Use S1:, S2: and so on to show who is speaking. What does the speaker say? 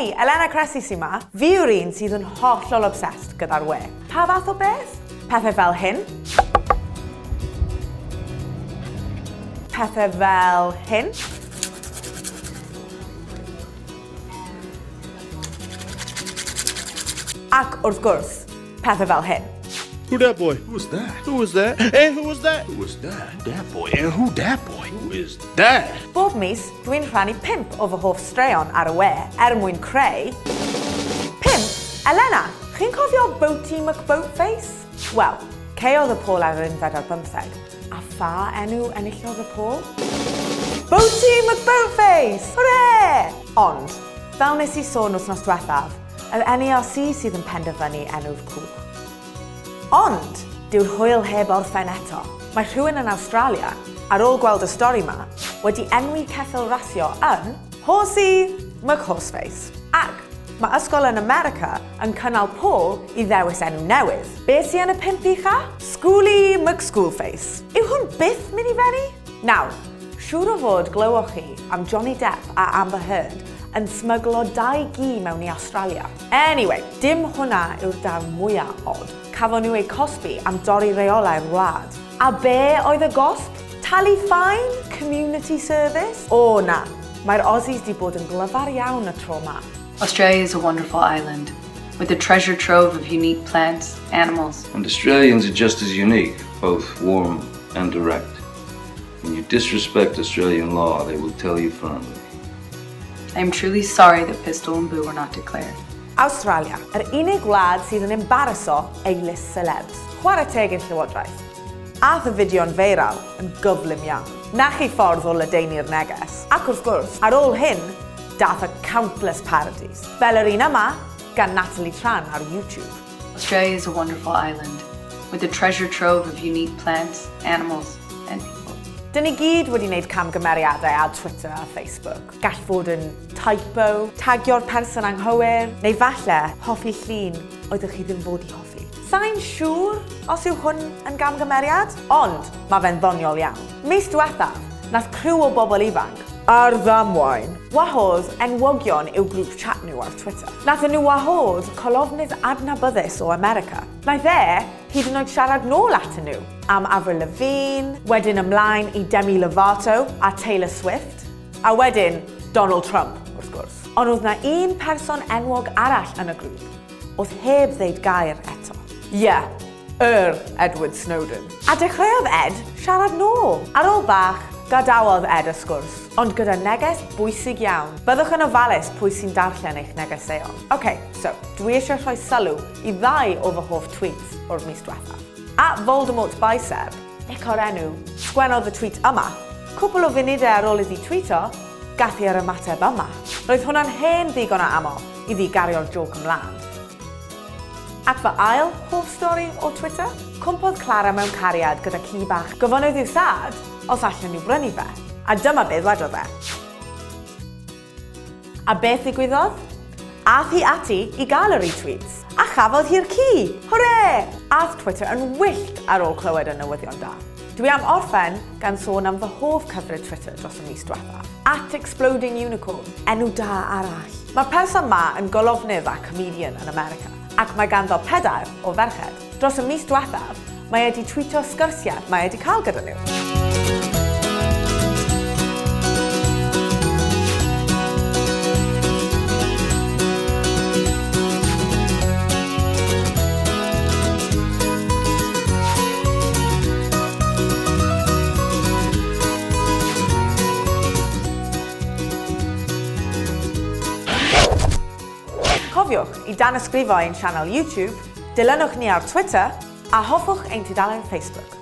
S1: Hei! Elena Cressy sy 'ma. Fi yw'r un sydd yn hollol obsessed gyda'r we. Pa fath o beth? Pethau fel hyn. Pethau fel hyn. Ac wrth gwrs, Pethau fel hyn. Who that boy? Who was that? Who was that? Eh, who was that? Who was that? That boy. Eh, who that boy? Who is that? Bob mis, dwi'n rhannu pimp o fy hoff straeon ar y we er mwyn creu... Pimp? Elena, chi'n cofio Boaty McBoatface? Wel, ceodd y pôl ar yr unfed ar bymtheg. A pha enw enillodd y pôl? Boaty McBoatface! Hwre! Ond, fel nes i sôn wythnos diwethaf, Yr NARC sydd yn penderfynu enw'r cwch. Ond, dyw'r hwyl heb orffen eto. Mae rhywun yn Awstralia, ar ôl gweld y stori 'ma, wedi enwi ceffyl rasio yn 'Horsey McHorseface'. Ac, mae ysgol yn America yn cynnal pôl i ddewis enw newydd. Be sy yn y pump ucha? Schooly McSchoolface. Yw hwn byth mynd i fenni? Nawr, siŵr o fod glywoch chi am Johnny Depp a Amber Heard yn smyglo dau gi mewn i Awstralia. Anyway, dim hwnna yw'r darn mwya od. Cafon nhw eu cosbi am dorri reolau'r wlad. A be oedd y gosb? Talu ffaen? Community service? O na, mae'r Aussies di bod yn glyfar iawn y tro ma. Australia is a wonderful island, with a treasure trove of unique plants, animals. And Australians are just as unique, both warm and direct. When you disrespect Australian law, they will tell you firmly. I am truly sorry that Pistol and Boo were not declared. Australia, yr unig wlad sydd yn embaraso ei list celebs. Chwarae teg i'r Llywodraeth. Ath y fideo'n feiral yn gyflym iawn. Na chi ffordd o ledaenu'r neges. Ac wrth gwrs, ar ôl hyn, dath y countless parodies, fel yr un yma gan Natalie Tran ar YouTube. Australia is a wonderful island with a treasure trove of unique plants, animals and people. Dyn ni gyd wedi wneud camgymeriadau ar Twitter a Facebook. Gall fod yn typo, tagio'r person anghywir, neu falle hoffi llun oeddech chi ddim fod i hoffi. Sai'n siŵr os yw hwn yn gamgymeriad, ond mae fe'n ddoniol iawn. Mis diwethaf, nath criw o bobl ifanc Ar ddamwain. Wahodd enwogion i'w grŵp chat nhw ar Twitter. Nathon nhw wahodd colofnydd adnabyddus o America. Naeth e hyd yn oed siarad nôl atyn nhw am Avril Lavigne, wedyn ymlaen i Demi Lovato a Taylor Swift, a wedyn Donald Trump, wrth gwrs. Ond oedd 'na un person enwog arall yn y grŵp oedd heb ddeud gair eto. Ie, Yr Edward Snowden. A dechreuodd Ed siarad nôl. Ar ôl bach, gadawodd Ed y sgwrs, ond gyda neges bwysig iawn. Byddwch yn ofalus pwy sy'n darllen eich negeseuon. Ok, so, dwi eisiau rhoi sylw i ddau o fy hoff tweets o'r mis dwethaf. At Voldemort Bicep, ec o'r enw, sgwennodd y tweet yma. Cwpl o funudau ar ôl iddi twîto, gath hi yr ymateb yma. Roedd hwnna'n hen ddigon o aml iddi gario'r jôc ymlaen. At fy ail hoff stori o Twitter? Cwmpodd Clara mewn cariad gyda ci bach. Gofynnodd i'w thad os allen nhw brynu fe, a dyma be ddwedodd e. A beth ddigwyddodd? Ath hi ati i gael y retweets, a chafodd hi'r ci! Hwre! Ath Twitter yn wyllt ar ôl clywed y newyddion da. Dwi am orffen gan sôn am fy hoff cyfrif Twitter dros y mis diwethaf, at Exploding Unicorn, enw da arall. Mae'r person 'ma yn golofnydd a comedian yn America, ac mae ganddo pedair o ferched. Dros y mis diwethaf, mae e 'di twîto sgyrsiau mae e 'di cael gyda nhw. Cofiwch i danysgrifo ein sianel YouTube, dilynwch ni ar Twitter a hoffwch ein tudalen Facebook.